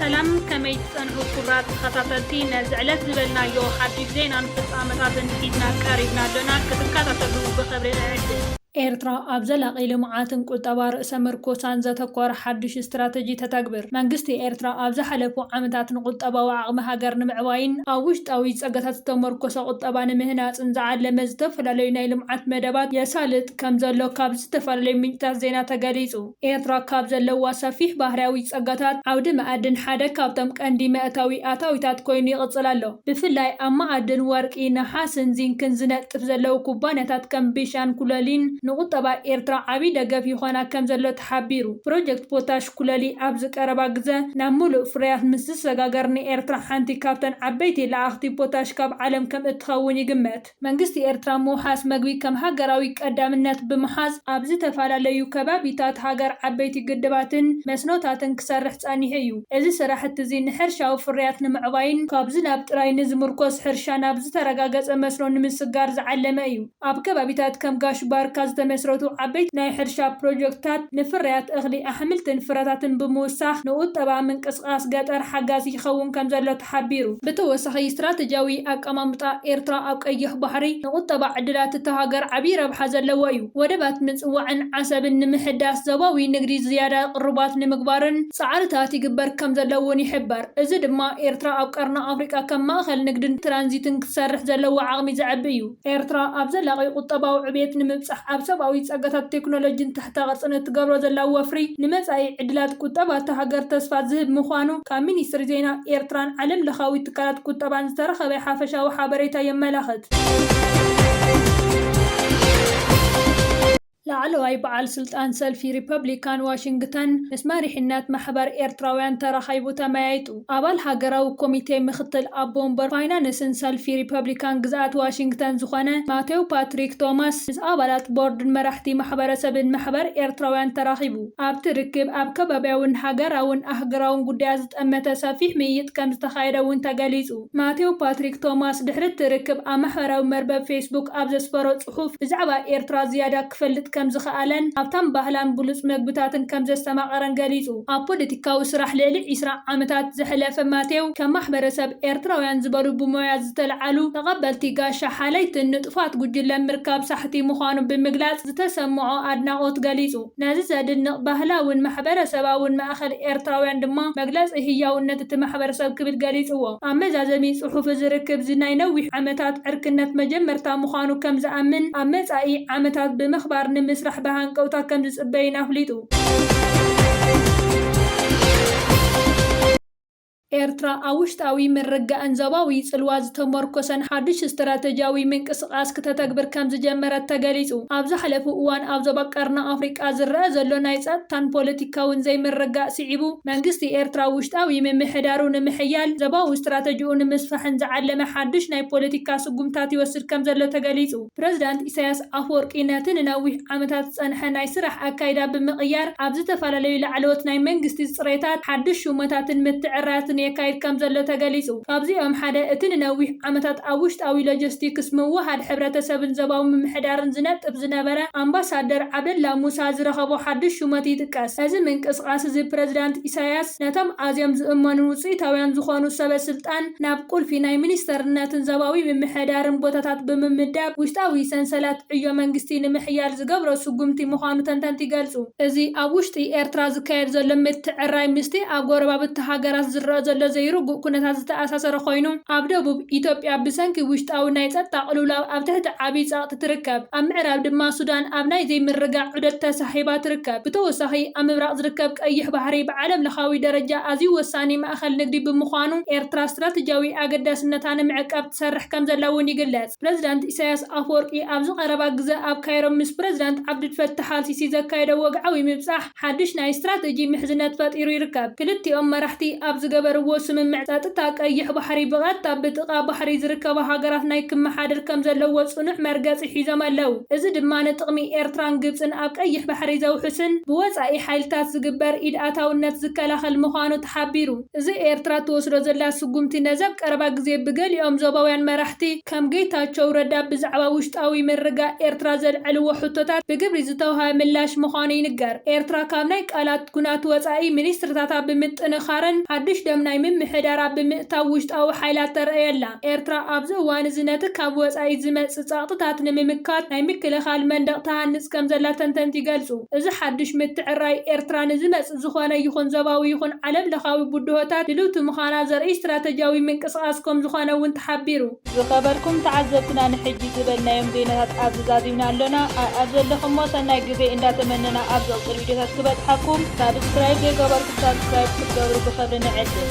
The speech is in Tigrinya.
ሰላም ከመይ ትጸንሑ ክቡራት ተኸታተልቲ ነዚ ዕለት ዝበልናዮ ሓድሽ ዜናን ፍጻመታትን ሒዝና ቀሪብና ኣሎና ክትከታተሉ ብኽብሪ እዕድም። ኤርትራ ኣብ ዘላቒ ልምዓትን ቁጠባ ርእሰ ምርኮሳን ዘተኮረ ሓዱሽ ስትራተጂ ተተግብር። መንግስቲ ኤርትራ ኣብ ዝሓለፉ ዓመታት ንቁጠባዊ ዓቕሚ ሃገር ንምዕባይን ኣብ ውሽጣዊ ጸጋታት ዝተመርኮሰ ቁጠባ ንምህናጽን ዝዓለመ ዝተፈላለዩ ናይ ልምዓት መደባት የሳልጥ ከምዘሎ ካብ ዝተፈላለዩ ምንጭታት ዜና ተገሊጹ። ኤርትራ ካብ ዘለዋ ሰፊሕ ባህርያዊ ጸጋታት፣ ዓውዲ መኣድን ሓደ ካብቶም ቀንዲ መእታዊ ኣታዊታት ኮይኑ ይቕጽል ኣሎ። ብፍላይ ኣብ መኣድን ወርቂ፣ ነሓስን ዚንክን ዝነጥፍ ዘለዉ ኩባንያታት ከም ቢሻን ኩለሊን ንቁጠባ ኤርትራ ዓቢ ደገፍ ይኾና ከምዘሎ ተሓቢሩ። ፕሮጀክት ፖታሽ ኩለሊ ኣብዚ ቀረባ ግዘ ናብ ምሉእ ፍርያት ምስ ዝሰጋገር ንኤርትራ ሓንቲ ካብተን ዓበይቲ ለኣኽቲ ፖታሽ ካብ ዓለም ከምእትኸውን ይግመት። መንግስቲ ኤርትራ ምውሓስ መግቢ ከም ሃገራዊ ቀዳምነት ብምሓዝ ኣብ ዝተፈላለዩ ከባቢታት ሃገር ዓበይቲ ግድባትን መስኖታትን ክሰርሕ ጸኒሑ እዩ። እዚ ስራሕቲ'ዚ ንሕርሻዊ ፍርያት ንምዕባይን ካብ ዝናብ ጥራይ ንዝምርኮስ ሕርሻ ናብ ዝተረጋገጸ መስኖ ንምስጋር ዝዓለመ እዩ። ኣብ ከባቢታት ከም ጋሽ ባርካ ዝተመስረቱ ዓበይቲ ናይ ሕርሻ ፕሮጀክትታት ንፍርያት እኽሊ፣ ኣሕምልትን ፍረታትን ብምውሳኽ ንቁጠባ ምንቅስቓስ ገጠር ሓጋዚ ይኸውን ከምዘሎ ሓቢሩ። ብተወሳኺ ስትራተጂያዊ ኣቀማምጣ ኤርትራ ኣብ ቀይሕ ባሕሪ ንቁጠባ ዕድላት እታ ሃገር ዓብዪ ረብሓ ዘለዎ እዩ። ወደባት ምጽዋዕን ዓሰብን ንምሕዳስ፣ ዞባዊ ንግዲ ዝያዳ ቅሩባት ንምግባርን ጻዕርታት ይግበር ከምዘሎ'ውን ይሕበር። እዚ ድማ ኤርትራ ኣብ ቀርኒ ኣፍሪቃ ከም ማእከል ንግድን ትራንዚትን ክትሰርሕ ዘለዋ ዓቕሚ ዘዕቢ እዩ። ኤርትራ ኣብ ዘላቒ ቁጠባዊ ዕብየት ንምብጻሕ ኣብ ሰብኣዊ ጸጋታትን ቴክኖሎጂን ትሕተ ቅርጽን እትገብሮ ዘላ ወፍሪ ንመጻኢ ዕድላት ቁጠባ እታ ሃገር ተስፋ ዝህብ ምዃኑ ካብ ሚኒስትሪ ዜና ኤርትራን ዓለም ለኻዊ ትካላት ቁጠባን ዝተረኸበ ሓፈሻዊ ሓበሬታ የመላኽት። ላዕለዋይ በዓል ስልጣን ሰልፊ ሪፐብሊካን ዋሽንግተን ምስ መሪሕነት ማሕበር ኤርትራውያን ተራኺቡ ተመያይጡ። ኣባል ሃገራዊ ኮሚቴ ምኽትል ኣቦ ወንበር ፋይናንስን ሰልፊ ሪፐብሊካን ግዝኣት ዋሽንግተን ዝኾነ ማቴው ፓትሪክ ቶማስ ምስ ኣባላት ቦርድን መራሕቲ ማሕበረሰብን ማሕበር ኤርትራውያን ተራኺቡ ኣብቲ ርክብ ኣብ ከባብያውን ሃገራውን ኣህግራውን ጉዳያት ዝጠመተ ሰፊሕ ምይይጥ ከምዝተኻየደ እውን ተገሊጹ። ማቴው ፓትሪክ ቶማስ ድሕሪ እቲ ርክብ ኣብ ማሕበራዊ መርበብ ፌስቡክ ኣብ ዘስፈሮ ጽሑፍ ብዛዕባ ኤርትራ ዝያዳ ክፈልጥ ከም ዝኸኣለን ሃብታም ባህላን ብሉጽ መግብታትን ከም ዘስተማቐረን ገሊጹ። ኣብ ፖለቲካዊ ስራሕ ልዕሊ ዕስራ ዓመታት ዘሕለፈ ማቴው፣ ከም ማሕበረሰብ ኤርትራውያን ዝበሉ ብሞያ ዝተለዓሉ ተቐበልቲ ጋሻ ሓለይትን ንጡፋት ጉጅለን ምርካብ ሳሕቲ ምዃኑ ብምግላጽ ዝተሰምዖ ኣድናቖት ገሊጹ። ነዚ ዘድንቕ ባህላውን ማሕበረሰባውን ማእከል ኤርትራውያን ድማ መግለጺ ህያውነት እቲ ማሕበረሰብ ክብል ገሊጽዎ። ኣብ መዛዘሚ ጽሑፍ እዚ ርክብ'ዚ ናይ ነዊሕ ዓመታት ዕርክነት መጀመርታ ምዃኑ ከም ዝኣምን፣ ኣብ መጻኢ ዓመታት ብምኽባር ንምስራሕ ብሃንቀውታ ከም ዝጽበይን ኣፍሊጡ። ኤርትራ ኣብ ውሽጣዊ ምርግጋእን ዞባዊ ጽልዋ ዝተሞርኮሰን ሓድሽ ስትራተጂያዊ ምንቅስቓስ ክተተግብር ከም ዝጀመረት ተገሊጹ። ኣብ ዝሓለፉ እዋን ኣብ ዞባ ቀርኒ ኣፍሪቃ ዝረኣ ዘሎ ናይ ጸጥታን ፖለቲካውን ዘይምርግጋእ ስዒቡ፣ መንግስቲ ኤርትራ ውሽጣዊ ምምሕዳሩ ንምሕያል፣ ዞባዊ ስትራተጂኡ ንምስፋሕን ዝዓለመ ሓድሽ ናይ ፖለቲካ ስጉምትታት ይወስድ ከም ዘሎ ተገሊጹ። ፕረዚዳንት ኢሳያስ ኣፍወርቂ ነቲ ንነዊሕ ዓመታት ዝጸንሐ ናይ ስራሕ ኣካይዳ ብምቕያር ኣብ ዝተፈላለዩ ላዕለዎት ናይ መንግስቲ ጽሬታት ሓድሽ ሹመታትን ምትዕርራትን የካይድ ከምዘሎ ተገሊጹ። ካብዚኦም ሓደ እቲ ንነዊሕ ዓመታት ኣብ ውሽጣዊ ሎጀስቲክስ፣ ምውህሃድ ሕብረተሰብን ዞባዊ ምምሕዳርን ዝነጥፍ ዝነበረ ኣምባሳደር ዓብደላ ሙሳ ዝረኸቦ ሓድሽ ሹመት ይጥቀስ። እዚ ምንቅስቓስ እዚ ፕረዚዳንት ኢሳያስ ነቶም ኣዝዮም ዝእመኑን ውጽኢታውያን ዝኾኑ ሰበ ስልጣን ናብ ቁልፊ ናይ ሚኒስተርነትን ዞባዊ ምምሕዳርን ቦታታት ብምምዳብ ውሽጣዊ ሰንሰለት ዕዮ መንግስቲ ንምሕያል ዝገብሮ ስጉምቲ ምዃኑ ተንተንቲ ይገልጹ። እዚ ኣብ ውሽጢ ኤርትራ ዝካየድ ዘሎ ምትዕርራይ ምስቲ ኣብ ጎረባብቲ ሃገራት ዝረኣ ዘሎ ዘይርጉእ ኩነታት ዝተኣሳሰረ ኮይኑ፣ ኣብ ደቡብ፣ ኢትዮጵያ ብሰንኪ ውሽጣዊ ናይ ጸጥታ ቅልውላው ኣብ ትሕቲ ዓቢ ጸቕጢ ትርከብ። ኣብ ምዕራብ ድማ ሱዳን ኣብ ናይ ዘይምርግጋእ ዑደት ተሳሒባ ትርከብ። ብተወሳኺ ኣብ ምብራቕ ዝርከብ ቀይሕ ባሕሪ ብዓለምለኻዊ ደረጃ ኣዝዩ ወሳኒ ማእኸል ንግዲ ብምዃኑ ኤርትራ ስትራቴጂያዊ ኣገዳስነታ ንምዕቃብ ትሰርሕ ከምዘላ እውን ይግለጽ። ፕረዚዳንት ኢሳይያስ ኣፍወርቂ ኣብዚ ቀረባ ግዘ ኣብ ካይሮ ምስ ፕረዚዳንት ዓብዱልፈታሕ ኣልሲሲ ዘካየዶ ወግዓዊ ምብጻሕ ሓድሽ ናይ ስትራቴጂ ምሕዝነት ፈጢሩ ይርከብ። ክልቲኦም መራሕቲ ኣብ ዝገበርዎ ስምምዕ ጸጥታ ቀይሕ ባሕሪ ብቐጥታ ብጥቓ ባሕሪ ዝርከባ ሃገራት ናይ ክመሓደር ከምዘለዎ ጽኑዕ መርገጺ ሒዞም ኣለው። እዚ ድማ ንጥቕሚ ኤርትራን ግብጽን ኣብ ቀይሕ ባሕሪ ዘውሕስን ብወጻኢ ሓይልታት ዝግበር ኢድ ኣታውነት ዝከላኸል ምዃኑ ተሓቢሩ። እዚ ኤርትራ እትወስዶ ዘላ ስጉምቲ ነዚ ኣብ ቀረባ ግዜ ብገሊኦም ዞባውያን መራሕቲ ከም ጌታቸው ረዳ ብዛዕባ ውሽጣዊ ምርግጋእ ኤርትራ ዘልዐልዎ ሕቶታት ብግብሪ ዝተውሃበ ምላሽ ምዃኑ ይንገር። ኤርትራ ካብ ናይ ቃላት ኩናት ወጻኢ ሚኒስትሪታታ ብምጥንኻርን ሓዱሽ ደም ናይ ምምሕዳራ ብምእታው ውሽጣዊ ሓይላ ተርእይ ኣላ። ኤርትራ ኣብዚ እዋን እዚ ነቲ ካብ ወጻኢ ዝመጽእ ጸቕጥታት ንምምካት ናይ ምክልኻል መንደቕ ትሃንጽ ከምዘላ ተንተንቲ ይገልጹ። እዚ ሓድሽ ምትዕርራይ፣ ኤርትራ ንዝመጽእ ዝኾነ ይኹን ዞባዊ ይኹን ዓለምለኻዊ ብድሆታት ድልውቲ ምዃና ዘርእይ ስትራተጅያዊ ምንቅስቓስ ከምዝኾነ እውን ተሓቢሩ። ዝኸበርኩም ተዓዘብትና ንሕጂ ዝበልናዮም ዜናታት ኣብዚ ዛዚምና ኣሎና ኣኣብ ዘለኹሞ ሰናይ ግዜ እንዳ ተመነና ኣብ ዝቕጽል ቪድዮታት ክበጽሓኩም ሳብስክራይብ ዘይገበርኩም ሳብስክራይብ ክትገብሩ ብኽብሪ ንዕድም።